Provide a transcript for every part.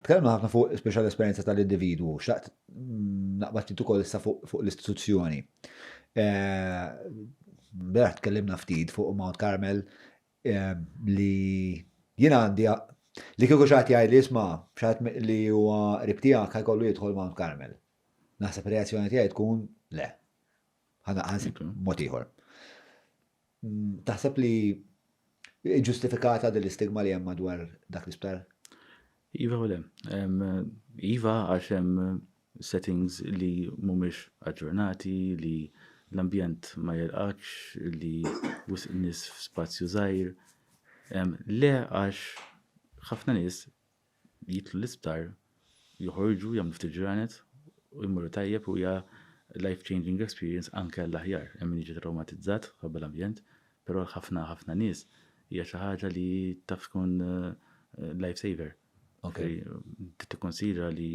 Tkellimna ħafna fuq speċjal esperjenza tal-individwu, xtaqt naqbad ftit ukoll issa fuq l-istituzzjoni. Beraħ tkellimna ftit fuq Mount Carmel li jien għandi li kieku xaħat jgħid li jisma' xaħat li huwa qrib tiegħek ħajkollu jidħol Mount Carmel. Naħseb reazzjoni tiegħi tkun le. Ħana ħansib mod ieħor. Taħseb li hi ġustifikata din l-istigma li hemm madwar dak l-isptar? Iva u le. Iva għax hemm settings li mhumiex aġġornati, li l-ambjent ma jilqakx, li wisq nies f'spazju żgħir. Le għax ħafna nies jidħlu l-isptar, joħorġu, jagħmlu ftit ġranet u jmorru tajjeb u hija life changing experience anke għall-aħjar. Hemm min jiġi trawmatizzat ħabba l-ambjent, però għal ħafna ħafna nies hija xi ħaġa li taf tkun eh, life saver. Okay. Tikkonsidra li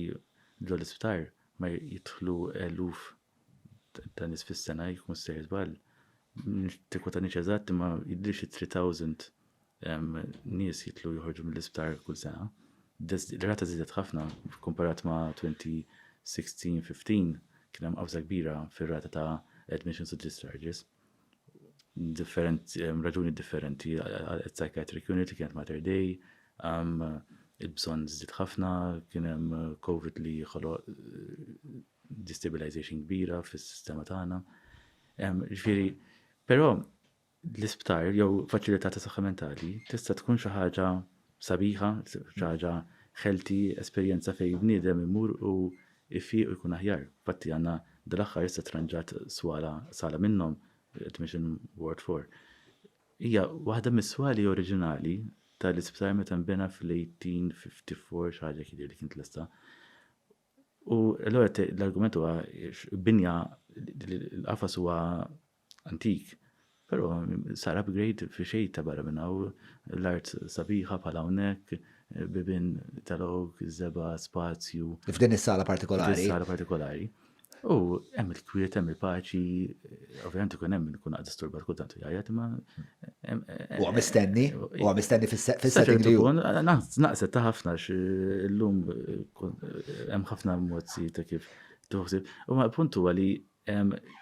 ġol l-isptar ma jidħlu eluf ta' nis fis-sena jkun sejr żball. Tikwa ta' niċ eżatt imma jidrix 3000 Nies jitlu joħorġu mill-isptar kull sena. L-rata żiedet ħafna komparat ma' 2016-15 kien hemm qafża kbira fir-rata ta' admissions u discharges. Raġuni differenti għal psychiatric unit li kienet Mater Dei, il-bżonn żdied ħafna, kien hemm Covid li ħoloq destabilization kbira fis-sistema tagħna. Ġifieri, però l-isptar jew faċilità ta' saħħa mentali tista' tkun xi ħaġa sabiħa, xi ħaġa ħelti, esperjenza fejn bniedem imur u jfiq u jkun aħjar. Infatti għandna dal-aħħar issa tranġat swala sala minnhom, Admission Ward 4. Hija waħda mis-swali oriġinali tal-isptar meta nbena fl-1854 xi ħaġa kien li kien tlesta. U l-argument huwa binja l-qafas huwa antik, però sar upgrade fi xejta barra minn hawn, l-art sabiħa bħal hawnhekk, bibien tal-oak, żebgħa, spazju. F'din is-sala partikolari. F'din is-sala partikolari. U hemm il-kwiet, hemm il-paċi, ovvjament ikun hemm min ikun għad disturbat kultant u jgħajjat imma. Huwa mistenni, huwa mistenni fis-setting li jkun. Naqset ta' ħafna x'illum hemm ħafna mozzi ta' kif tuħsib. U ma' punt huwa li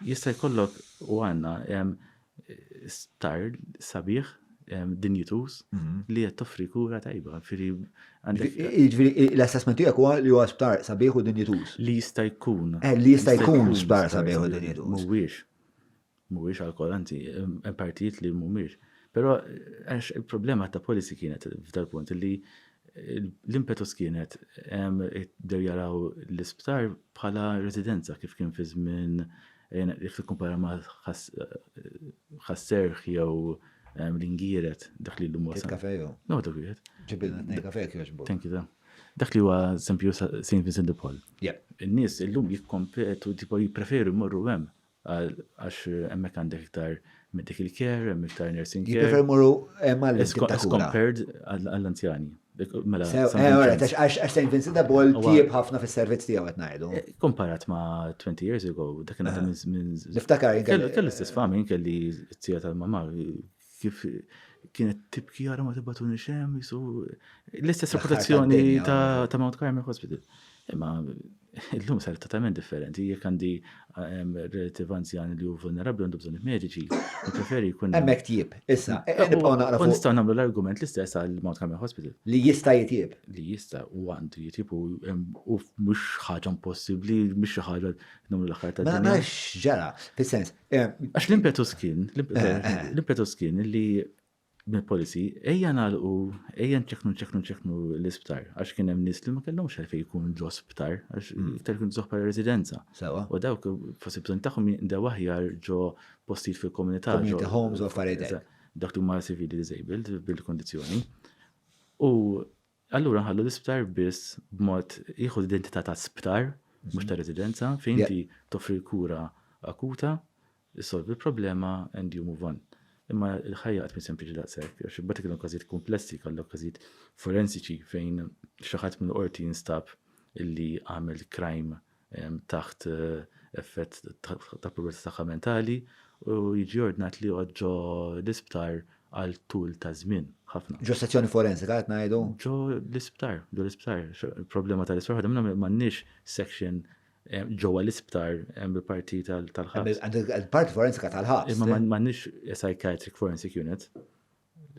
Jista' jkollok u għandna star sabiħ dinjituż mhm. li qed toffri kura tajba. Jiġifieri l-assessment tiegħek huwa li huwa sptar sabiħ u dinjituż. Li jista' jkun. Eh, li jista' jkun sptar sabiħ u dinjituż. Mhuwiex. Mhuwiex għalkoll, anzi, hemm partijiet li mhumiex. Però għax il-problema ta' policy kienet f'dal-punt li L-impetus kienet bdew jaraw l-isptar bħala residenza kif kien fi żmien jekk tikkumpara ma' Ħas-Serħ jew l-Ingieret dak li llum huwa. Il-kafe jew? No, dak wieħed. Ġibilna tnejn kafe jekk jogħġbok. Thank you, Dom. Dak li huwa St. Vincent de Paul. Yeah. In-nies illum jikkompetu, tipo jippreferu jmorru hemm Għax hemmhekk għandek iktar medical care, hemm iktar nursing care. Jiprefer muru hemm għal As compared għall-anzjani. Mela, għax St. Vincent de Paul tieb ħafna fis-servizz tiegħu qed ngħidu. Eh, Komparat ma' 20 years ago, dak kien għadha minn. Niftakar kellu l-istess fami kelli t-tija tal-mamma kif kienet tibki għara ma tibatuni xem, jisu l-istess reputazzjoni ta' Mount Carmel Hospital. Imma l-lum sar totalment differenti, jek għandi ehm, relativ anzjan li ju vulnerabli għandu bżonni mediċi, preferi jkun. Emmek tjib, issa, eh, eh, nibqaw naqra. Nistaw namlu l-argument l-istess għal Mount Carmel Hospital. Li jista jitjib. Li jista u għandu jitjib u ehm, mux ħagħan possibli, mux ħagħan namlu l-axħar ta' Mela, mela ġara, fil-sens, Għax l-impetus kien, l-impetus kien li minn policy, ejja nalqu, ejja nċeknu nċeknu nċeknu l-isptar, għax kien hemm nies li ma kellhomx għalfejn jkun l-osptar, għax mm. iktar kien zoħ bħala residenza. Sewa. U dawk forsi bżonn tagħhom jindew aħjar ġo postijiet fil-komunità. Community homes u affarijiet. Dak li huma civili disabled bil-kondizzjoni. U Allura nħallu l-isptar biss b'mod jieħu l-identità ta' sptar, mhux ta' residenza, fejn inti toffri l-kura akuta, issolvi l-problema and you move on. Imma l-ħajja qatt mhi sempliċi daqshekk, għax imbagħad ikollok każijiet kumplessi, jkollok każijiet forensiċi fejn xi ħadd mill-qorti jinstab illi għamel crime taħt effett ta' problemi tagħha mentali u jiġi ordnat li joqgħod ġo l-isptar għal tul ta' żmien ħafna. Ġo sezzjoni forensika qed ngħidu? Ġo l-isptar, ġo l-isptar. Il-problema tal-isptar ħadem minnhom m'għandniex section ġewwa l-isptar hemm il-parti tal-ħabs. Il-parti forensika tal-ħabs. Imma m'għandniex psychiatric forensic unit.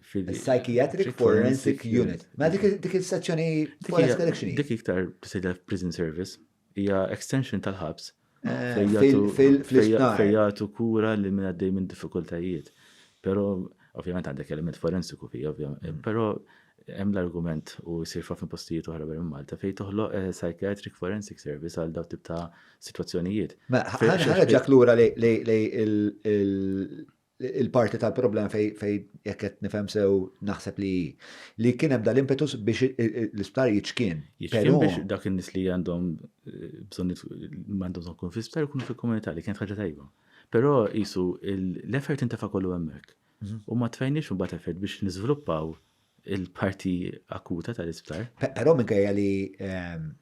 Psychiatric Forensic Unit. Ma dik il-sezzjoni Forest Correction. Dik iktar tisejda f'Prison Service. Hija extension tal-ħabs. Fejjatu kura li minn għaddej minn diffikultajiet. Pero, ovvjament għandek element forensiku fi, ovvjament. Mm. Pero, hemm l-argument u jsir fa' fin postijiet oħra barra Malta fej toħloq eh, psychiatric forensic service għal daw tip ta' situazzjonijiet. Ħarġak lura li il-parti tal-problema fejn fej, jekk qed nifhem sew naħseb li li kien hemm dal-impetus biex l-isptar jiċkien. Jiċkien biex dak in-nies li għandhom eh, bżonn għandhom bżonn kun fl-isptar ikunu fil-komunità li kienet ħaġa tajba. Però jisu l-effort intefa' kollu hemmhekk. Mhm. U ma tfejniex imbagħad effort biex niżviluppaw il-parti akuta tal-isptar. Però minkejja li ehm,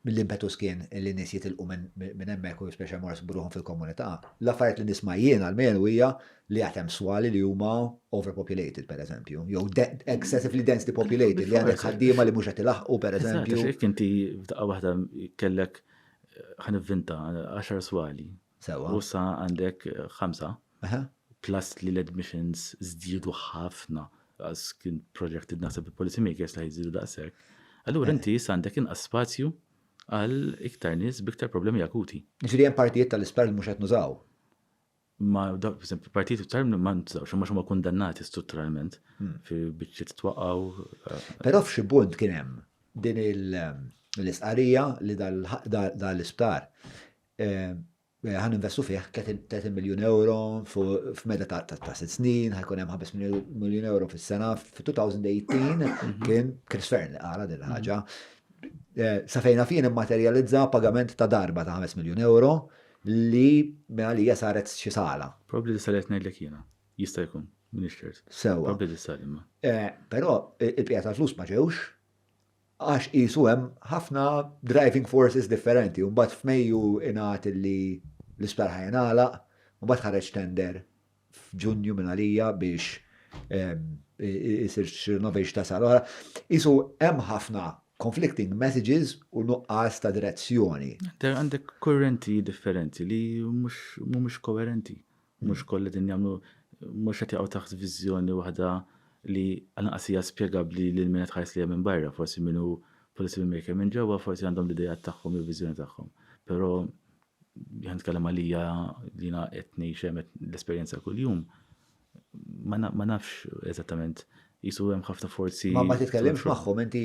mill-impetus kien li n-nies jitilqu minn hemmhekk u spiċċaw imorru jsibu ruħhom fil-komunità. L-affarijiet li nisma' jien almenu hija li għad hemm swali li huma overpopulated pereżempju, jew excessively densely populated li għandek ħaddiema li mhux qed ilaħħqu pereżempju. Eżatt, għax jekk inti f'daqqa waħda kellek, ħa nivvinta, għaxar swali, Sewwa. U issa għandek ħamsa. Aha. Plus li l-admissions żdiedu ħafna għax kien projected naħseb il-policy makers li ħajżidu daqshekk. Allura inti issa għandek inqas spazju għal iktar nies b'iktar problemi akuti. Ġifieri hemm partijiet tal-isptar li mhux qed nużaw. Ma dak eżempju partijiet tal ma ntużawx imma huma kundannati strutturalment fi biċċiet twaqgħu. Però f'xi punt kien hemm din l-istqarrija li dan l-isptar Ħa ninvestu fih 30 miljun euro f'meda ta' sitt snin, ħajkun hemm 5 miljun euro fis-sena. F'2018 kien Chris Fern li qara din il-ħaġa. Sa fejna fien immaterjalizza pagament ta' darba ta' 5 miljun euro li minn għalija saret xi sala. Probabbli tista' li qed ngħidlek jiena. Jista' jkun, m'iniex ċert. Sewwa. Probabbli tista' li ma. Però il-bqija tal-flus ma ġewx. għax qisu hemm ħafna driving forces differenti u mbagħad f'Mejju ingħad li l-isptar ħa jingħalaq u mbagħad ħareġ tender f'Ġunju minn għalija biex isir xi renovation ta' sala oħra. Isu hemm ħafna conflicting messages u nuqqas ta' direzzjoni. Għandek kurrenti differenti li mhumiex koerenti. Mhux kollha qegħdin jagħmlu mhux qed jaqgħu taħt viżjoni waħda li għall-inqas hija spjegabbli lil min qed iħares lejha minn barra. Forsi min hu policy maker minn ġewwa forsi għandhom l-ideat tagħhom jew viżjoni tagħhom. Però jekk nitkellem għalija li jiena qed ngħix hemm l-esperjenza kuljum, ma nafx eżattament qisu hemm ħafna forzi. Ma ma titkellimx magħhom inti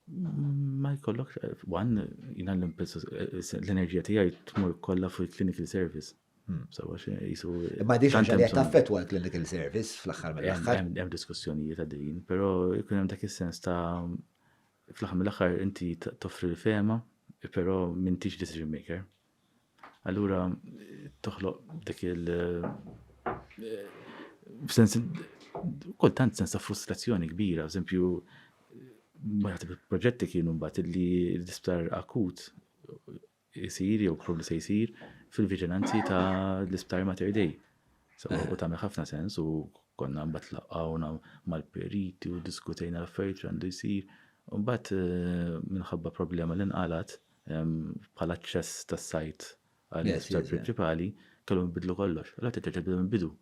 Ma jkollokx, għan, jina l-enerġija tijaj tmur kolla fuq il-clinical service. Hmm, Sawa xe jisu. Ma diġa ġalja taffetwa l-clinical service fl-axħar mill-axħar. Hemm diskussjonijiet għaddejjin, pero jkun hemm dak is-sens ta' fl-axħar mill-axħar inti toffri l-fema, pero mintix decision maker. Allura toħloq dik il- eh, sens kultant sens ta' frustrazzjoni kbira, eżempju maħtib il-proġetti kienu mbagħad li l-isptar akut jisir jew li se jsir fil-viġinanzi ta' l-isptar Mater Dei. So, eh. u tagħmel ħafna sens u konna mbagħad laqgħuna mal-periti u diskutejna l-affarijiet għandu jsir. U mbagħad eh, minħabba problema li nqalat, bħala aċċess tas-sajt għall-isptar prinċipali, kellhom bidlu kollox. Allora titterġa' tibda mill-bidu.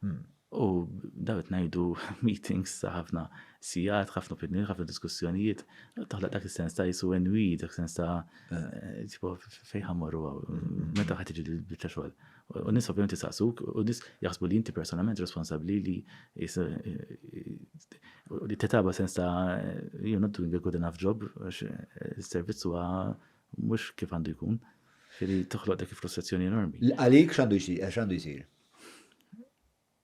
Hmm. U daw qed ngħidu meetings ta' ħafna sigħat, ħafna opinjoni, ħafna diskussjonijiet, toħloq dak is-sens ta' jisu enwi, dak sens ta' eh. Eh, tipo fejn ħammorru għaw, meta ħad tiġi l-biċċa xogħol. U n-nies ovvjament isaqsuk, u n-nies jaħsbu li inti personalment responsabbli li li tetaba sens ta' you're not doing a good enough job, għax is-servizz huwa mhux kif għandu jkun. Ġifieri toħloq dik il-frustrazzjoni enormi. Għalik x'għandu jsir?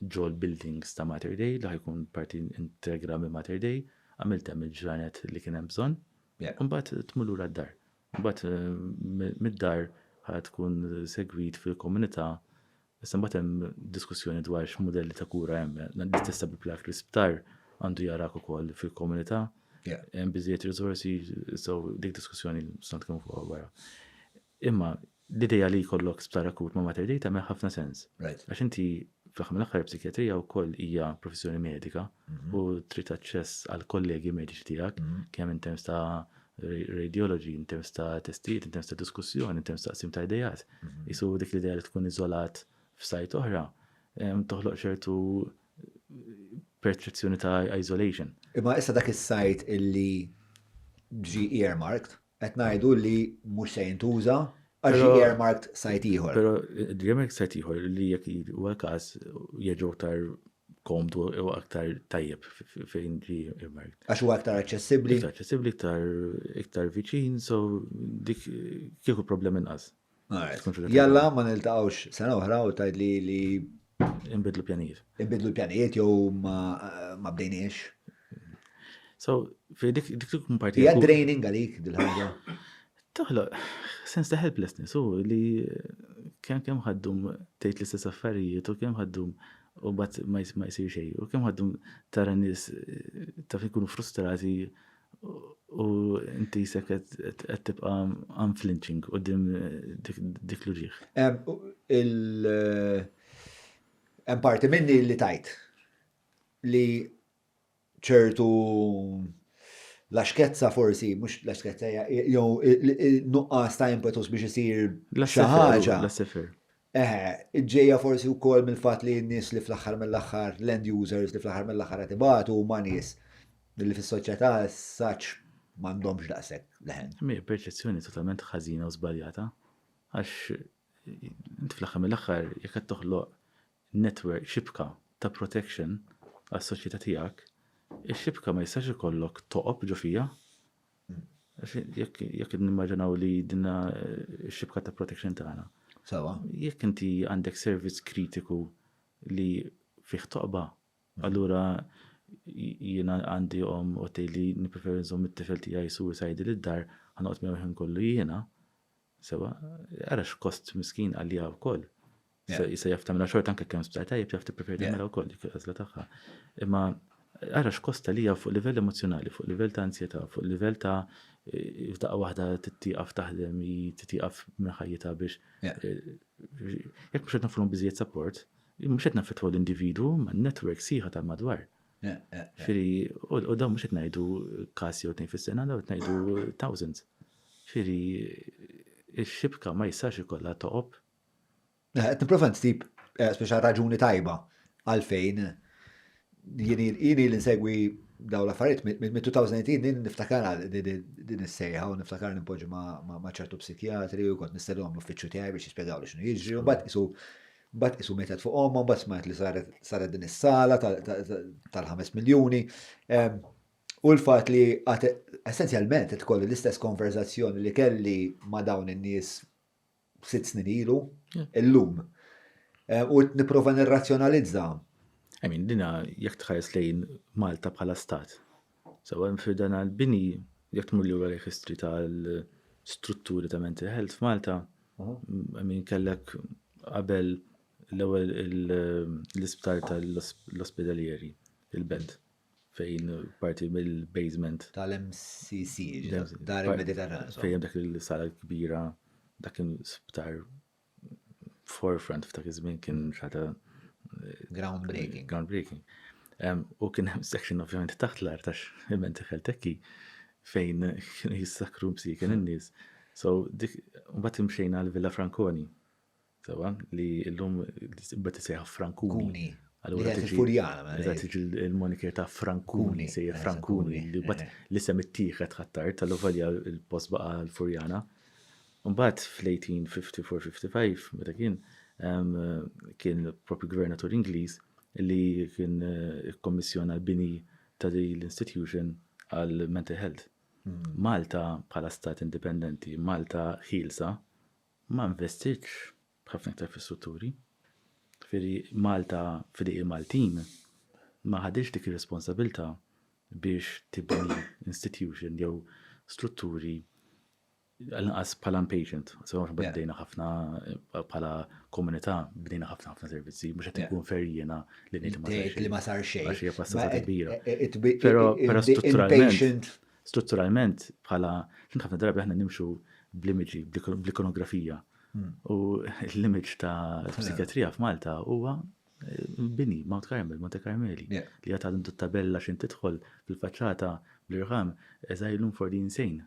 ġol-buildings ta' Mater Dei li ħa jkun parti integra minn Mater Dei, għamilt hemm il-ġranet li kien hemm bżonn, imbagħad tmur lura d-dar. Imbagħad mid-dar ħa tkun segwit fil-komunità, issa mbagħad hemm diskussjoni dwar x'mudelli ta' kura hemm. L-istess applak l-isptar għandu jarak ukoll fil-komunità, hemm biżejjed riżorsi, so dik diskussjoni stant kemm fuq wara. Imma l-idea li jkollok sptar akut ma' Mater Dei tagħmel ħafna sens. Right. Għax inti fl-aħħar mill-aħħar il-psikijatrija wkoll hija professjoni medika u trid aċċess għall-kollegi mediċi tiegħek kemm in terms ta' radiology, in terms ta' testijiet, in terms ta' diskussjoni, in terms ta' qsim ta' idejat. Isu dik l-idea li tkun iżolat f'sajt oħra em, toħloq ċertu perċezzjoni ta' isolation. Imma issa dak is-sajt illi ġi earmarked, Qed ngħidu li mhux se jintuża għax ġie earmarked sajt ieħor. Però ġie earmarked sajt ieħor li jekk huwa l-każ jerġgħu aktar komdu u aktar tajjeb fejn ġie earmarked. Għax huwa aktar aċċessibbli. Aktar aċċessibbli, iktar viċin, so dik kieku problema inqas. Jalla ma niltaqgħux sena oħra u tgħid li li Inbidlu pjanijiet. Inbidlu pjanijiet jew ma bdejniex. So, fi dik dik tkun parti. Hija draining għalik dil-ħaġa. Toħloq sens ta' helplessness u li kemm kemm ħaddum tgħid l-istess affarijiet u kemm ħaddum u bat ma jsir xejn u kemm ħaddum tara nies eh, taf ikunu frustrati U inti jisek qed tibqa' unflinching u dim dik l-uġieħ. Hemm parti minni li tajt li ċertu laxkezza forsi, mhux laxkezza jew nuqqas ta' impetus biex isir xi ħaġa. L-sifer. Eħe, ġejja forsi wkoll mill-fatt li n-nies li fl-aħħar mill-aħħar, l-end users li fl-aħħar mill-aħħar qed ibatu huma nies li fis-soċjetà as such m'għandhomx daqshekk leħen. Imma hija perċezzjoni totalment ħażina u żbaljata għax int fl-aħħar mill-aħħar jekk qed toħloq network, xibka ta' protection għas-soċjetà tiegħek, ix-xibka ma jistax ikollok toqob ġo fiha Jekk nimmaġinaw li dinna xibka ta' protection tagħna. Sawa. Jekk inti għandek servizz kritiku li fih toqba, allura jiena għandi omm u tgħidli nippreferi nżomm it-tifel tiegħi suicidal id-dar, ħa noqgħod miegħu l-ħin kollu jiena, Sewa, ara x'kost miskin għaliha wkoll. Issa jaf tagħmilha xorta anke kemm sptar tajjeb jaf tippreferi tagħmilha wkoll dik il-għażla tagħha. Imma ara x'kost għaliha fuq livell emozzjonali, fuq livell ta' ansjetà, fuq livell ta' f'daqqa waħda tieqaf taħdem, hi tieqaf minn ħajjitha biex jekk mhux qed noffrulhom biżżejjed support, mhux qed naffettwaw l-individwu imma n-network sħiħa tal-madwar. Firri, u dawn mhux qed ngħidu każ jew tnejn fis-sena, dawn qed ngħidu thousands. Firri, ix-xibka ma jistax ikollha toqob. Eh, qed nipprova nsib eh, speċa raġuni tajba għalfejn jini l-insegwi daw l-affarijiet mit-2018 din niftakar din is-sejħa u niftakar nimpoġi ma' ċertu psikjatri u kont nistellu għamlu uffiċċju tiegħi biex jispjegaw li x'nu jiġri u mbagħad isu Mbagħad qisu mietet fuq ommha, mbagħad smajt li saret saret din is-sala tal-ħames miljuni. U l-fatt li għad essenzjalment qed kolli l-istess konverzazzjoni li kelli ma' dawn in-nies sitt snin ilu, illum. U nipprova nirrazzjonalizza. I mean, dina jekk tħares lejn Malta bħala stat, So hemm fi dan il-bini, jekk tmur lura lejn history tal-strutturi ta' mental health f'Malta, I mean kellek qabel l-ewwel l-isptar tal-ospedalieri, il-belt, fejn parti mill-basement. Tal-MCC, ġifieri dar il-Mediterran. Fejn hemm dik is-sala l-kbira, dak kien sptar forefront f'dak iż-żmien kien xata groundbreaking. Groundbreaking. U kien hemm section ovvjament taħt l-art għax imenti ħeltekki fejn kienu jissakru msiken in-nies. So dik mbagħad imxejna għal Villa Frankoni. Sewa li llum bad isejħa Frankuni. Allura tiġi furjana. Tiġi il-moniker ta' Frankuni, sejja eh, Frankuni, li bat eh. li sem ittieħed ħattar tal-uvalja il-post baqa l-furjana. Imbagħad fl-1854-55, meta kien, kien propju gvernatur Ingliż li kien ikkommissjona l-bini ta' din l-institution għall-mental health. Malta bħala stat indipendenti, Malta ħielsa, ma investitx b'ħafna iktar fis-strutturi. Ġifieri Malta f'idejn il-Maltin ma ħaditx dik ir-responsabilità biex tibni institution jew strutturi Għall-inqas bħala impatient, sewa aħna Yeah. bdejna ħafna eh, bħala komunità, bdejna ħafna ħafna servizzi, mhux qed Yeah. inkun fair jiena li ngħid li ma Dejk li ma sar xejn. Għax hija passata Ma- kbira. eh, eh, it- it- Però- it- però it- strutturalment- impatient. Strutturalment bħala kien ħafna drabi aħna nimxu bl-imġi, bl-ikonografija. Hmm. U l-image ta' psikiatrija f'Malta huwa eh, bini, Mount Carmel, Monte Carmeli. Yeah. Li għat għadhom tabella xin tidħol fil-faċċata bl-irħam, eżajlum for the insane.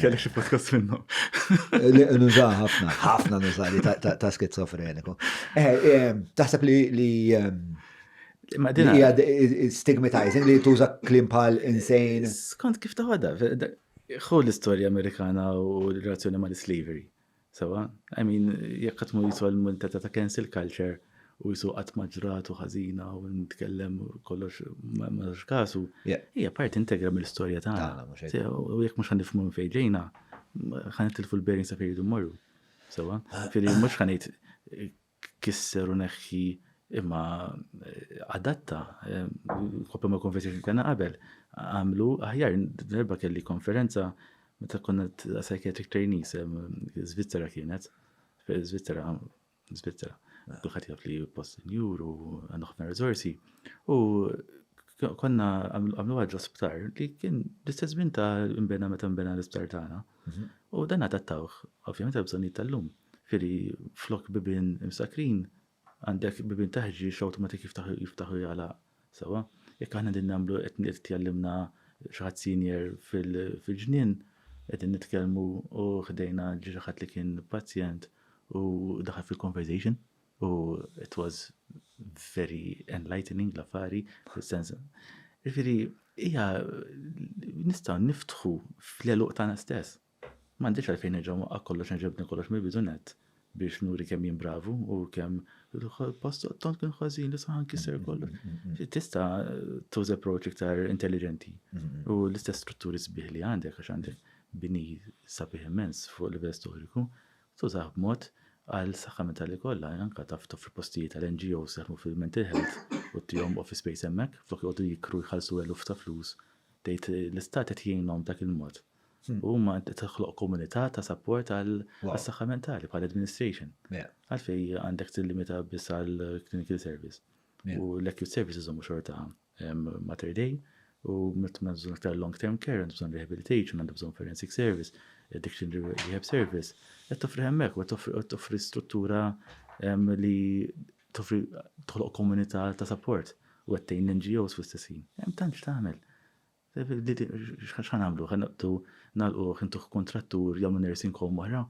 Kellek xi podcast minnu. Nuża ħafna, ħafna nuża li ta' skizofreniku. Eh, eh, taħseb li li eh, hija stigmatizing li tuża klim bħal insane. Skont kif taħodha, ħu l-istorja Amerikana u l-relazzjoni mal-slavery. Sewa, I mean, jekk qatt ma jiswa l-muntetta ta' cancel culture u jiswa qatt ma ġrat u ħażina u nitkellem kollox ma nagħtux kasu, hija parti integra mill-istorja tagħna. U jekk mhux ħanifhmu minn fejn ġejna, ħanitilfu l-bearings ta' fejn jridu mmorru. Sewa, firri mhux ħanejt kisser u neħħi imma adatta kopja ma' konferenza li kellna qabel għamlu aħjar darba kelli konferenza meta konna psychiatric trainees Svizzera kienet Svizzera Svizzera kulħadd jaf li post senjur u għandu ħafna riżorsi u konna għamlu għad l-osptar li kien l-istess żmien ta' imbena meta imbena l-isptar tagħna mhm. u dan adattawh ovvjament għal bżonnijiet tal-lum. Firri flok bibien imsakkrin għandek bibien ta' ħġieġ awtomatik jiftaħ u jagħlaq sewwa. Jekk aħna qegħdin nagħmlu qed jgħallimna xi ħadd senior fil-ġnien qegħdin nitkellmu u ħdejna ġie xi ħadd li kien pazjent u daħal fil-conversation u it was very enlightening l-affari fis-sens. Jiġifieri hija nistgħu niftħu fl-għeluq tagħna stess. M'għandix għalfejn nerġa' nwaqqa' kollox nerġa' nibni kollox mill-bidu nett biex nuri kemm jien bravu u kemm post tont kien ħażin li saħan kisser kollox. Tista' tuża approach iktar intelligenti u l-istess strutturi sbieħ li għandek għax għandek bini sabiħ immens fuq livell storiku tużah b'mod għal saħħa mentali kollha anke taf toffri postijiet għal NGOs jaħdmu fil-mental health u tihom office space hemmhekk flok joqogħdu jikru jħallsu eluf ta' flus tgħid l-istat qed jgħinhom b'dak il-mod. Huma qed toħloq komunità ta' sapport għas-saħħa mentali bħal administration. Għalfejn għandek tillimita biss għall-clinical service? U l-acute service iżommu xorta mater dei u meta għandna bżonn aktar long term care, għandna bżonn rehabilitation, għandna bżonn forensic service, addiction rehab service. Qed toffri hemmhekk u qed toffri struttura li toffri toħloq komunità ta' sapport u qed tgħin l-NGOs fl-istess ħin. Hemm tant x'tagħmel. X'ħa nagħmlu? Ħa noqogħdu nagħlquh, intuh kuntrattur, jagħmlu nursing home oħra?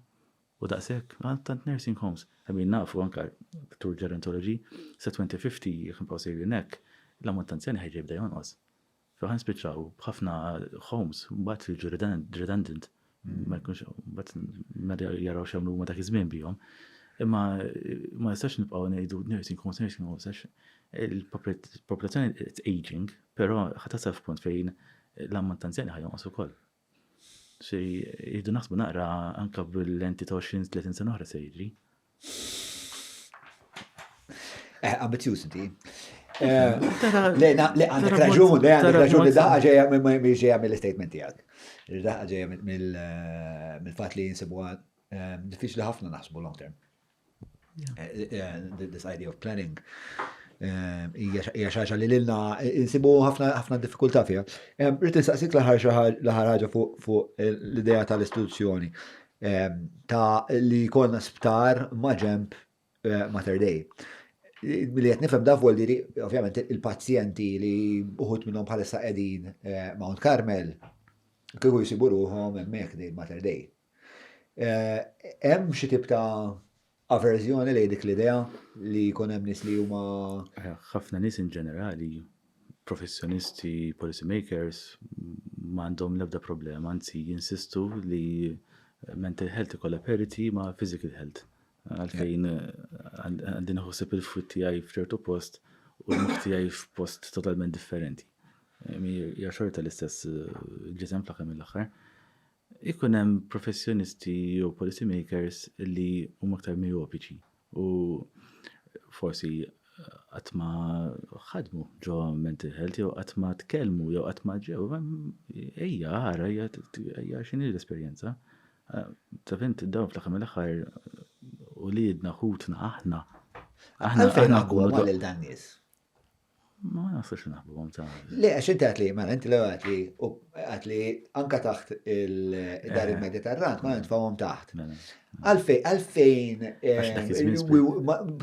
U daqshekk? Għal tant nursing homes. I mean nafu anke Dottor Gerontology, sa 2050 jekk nibqgħu sejrin hekk, l-ammont ta' anzjani ħerġa' jibda jonqos. So ħa nispiċċaw b'ħafna homes mbagħad li jiġu redundant. ma jkunx bat nadi jaraw xemlu huma dak iż-żmien bihom. Imma ma nistax nibqgħu ngħidu nursing homes, nursing homes, għax il-popolazzjoni it's aging, però ħatasal f'punt fejn l-ammont ta' anzjani ħajonqos ukoll. Xi jridu naħsbu naqra anke bil-lenti ta' 20-30 sena oħra se jiġri. Eh, ambizjuż inti. Eh, le, għandek raġun, le, għandek raġun li daħħa ġeja ġeja mill-statement tijak. Daħħa ġeja eh, mill-fat li jinsibu eh, diffiċli ħafna naħsbu long term. This idea of planning. Ija xaġa li l-ilna insibu ħafna diffikulta fija. Rrit nsaqsik laħar ħaġa fuq l-ideja tal-istituzzjoni. ta' li jkollna sptar ma' ġenb Mater Dei. Li qed nifhem da vuol dire, ovvjament, il-pazjenti li uħud minnhom bħalissa qegħdin Mount Carmel, kieku jsibu ruħhom hemmhekk din Mater Dei. Hemm xi tip ta' Averżjoni lejn dik l-idea li jkun hemm nies li huma. Ħafna nies in ġenerali, professjonisti, policy makers, ma għandhom l-ebda problema, anzi jinsistu li mental health ikollha parity ma' physical health. Għalfejn għandi nħossib il-fwid tiegħi f'ċertu post u l-moħħ tiegħi f'post totalment differenti. Hija xorta l-istess eh, ġisem fl-aħħar mill-aħħar. Ikun hemm professjonisti jew policy makers li huma aktar mijopiċi u forsi qatt ma ħadmu ġo mental health jew qatt ma tkellmu jew qatt ma ġew. Ejja, ara, ejja x'inhi l-esperjenza. Taf int dawn fl-aħħar mill-aħħar uliedna, ħutna, aħna. Aħna fejn naqwa lil dan nies. Ma nafux naħbuhom ta' Le, għax inti għatli, mela, inti l għatli, u għatli anka taħt il-dar eh. il-Mediterran, ma nintfawhom taħt. Mela. Għalfejn, għalfejn, eh,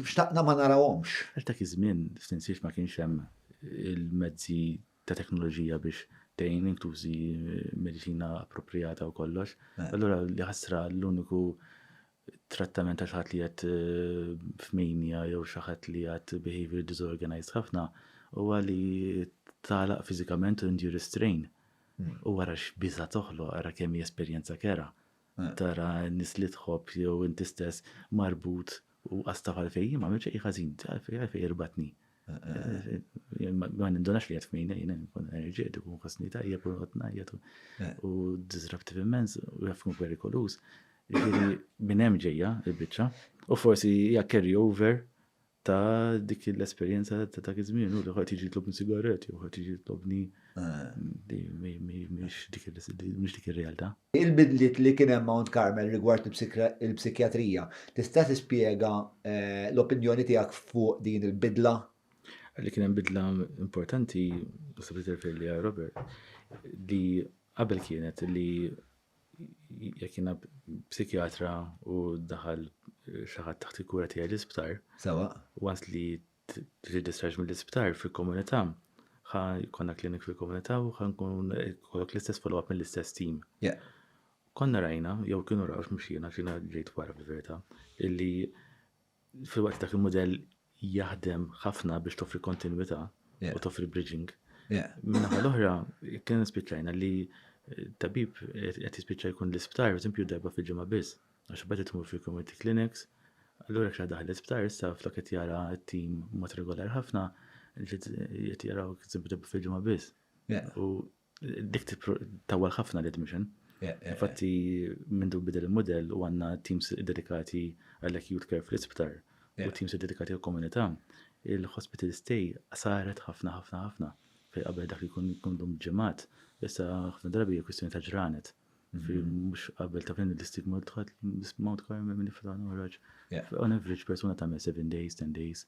xtaqna ma narawhomx. Għax dak iż-żmien, f'tinsiex ma kienx hemm il-mezzi ta' teknoloġija biex tejn intużi medicina appropriata u kollox. Eh. Allora li ħasra l-uniku trattament għal ħadd li qed eh, f'minja jew xi ħadd li qed behavior disorganized ħafna huwa li talaq fiżikament u indu restrain. Hmm. U wara x'biża toħloq, ara kemm hi esperjenza kera. Hmm. Tara nis li tħobb jew inti stess marbut u għasta għalfejn ma għamilx ħażin, għalfejn għalfejn irbatni. Ma nindunax li jgħat f'mina jina nkun enerġetiku, nkun ħasni tajjeb u għat najjat u disruptive immens u jafkun perikolus. Ġiri minn hemm ġejja il-biċċa u forsi hija carry over ta' dik l-esperjenza ta' dak iż-żmien u li ħadd jiġi jitlobni sigaret jew ħadd jiġi jitlobni mhix dik ir-realtà. Il-bidliet li kien hemm Mount Carmel rigward il-psikjatrija, tista' tispjega l-opinjoni tiegħek fuq din il-bidla? Li kien hemm bidla importanti, naħseb li tirreferi lejha Robert, li qabel kienet li jekk jiena psikjatra u daħal xi ħadd taħt il-kura tiegħi l-isptar, once li trid discharge mill-isptar fil-komunità, ħa jkollna klinik fil-komunità u ħa nkun kollok l-istess follow-up mill-istess team. Konna rajna, jew kienu raw x'mxina, xina ġejt wara fil-verità, illi fil-waqt dak il-modell jaħdem ħafna biex toffri kontinuità u toffri bridging. Minna l-oħra, kien spiċċajna li tabib qed jispiċċa jkun l-isptar, eżempju, darba fil-ġimgħa biss. Għax beda tmur fil-community clinics, allura jekk xi waħda daħlet sptar issa flok qed jara t-tim mod regulari ħafna, qed jaraw tibda fil-ġimgħa biss. U dik tawwal ħafna l-admission. Infatti minn dun bidel il-mudell u għandna teams dedikati għall-acute care fl-isptar u teams dedikati għall-komunità, il-hospital stay saret ħafna ħafna ħafna. Fej qabel dak li jkun jkun dum ġimgħat, issa ħafna drabi kwistjoni ta' ġranet. Mhux qabel ta' fejn l-istigma dħalt Mount Carmel minn ifra noħroġ. On average persuna tagħmel 7 days, 10 days,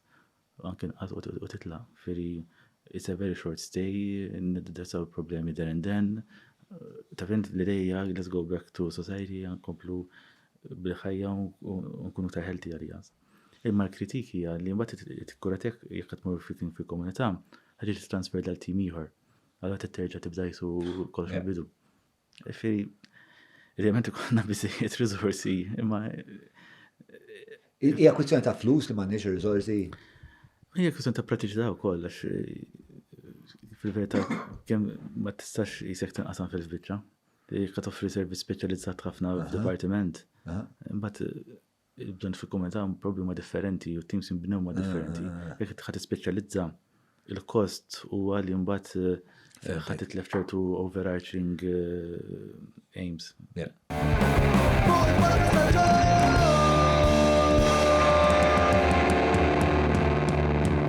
anke nqas u titla'. Firri it's a very short stay, niddesaw problemi there and then. Ta' fejn l-ideja let's go back to society, nkomplu bil-ħajja u nkunu ta' healthy għalija. Imma l-kritik hija li mbagħad it-kura tiegħek jekk qed tmur fi komunità, ħaġa li transfer dal-tim ieħor. Għala titterġa tibda jisu kollox mill-bidu. Fi, idealment ikonna biżejjed riżorsi, imma. Hija kwistjoni ta' flus li m'għandniex riżorsi. Hija kwistjoni ta' pratiċità wkoll għax fil-verità kemm ma tistax jisek tinqasam fil-biċċa. Jekk toffri servizz speċjalizzat ħafna f'dipartiment, imbagħad Bżonn fil-kumment ta' probi ma' differenti u teams inbnew ma' differenti. Jekk tħad tispeċjalizza il-kost u għalli mbagħad eh, ħad titlef ċertu overarching eh, aims.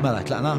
Mela, tlaqna?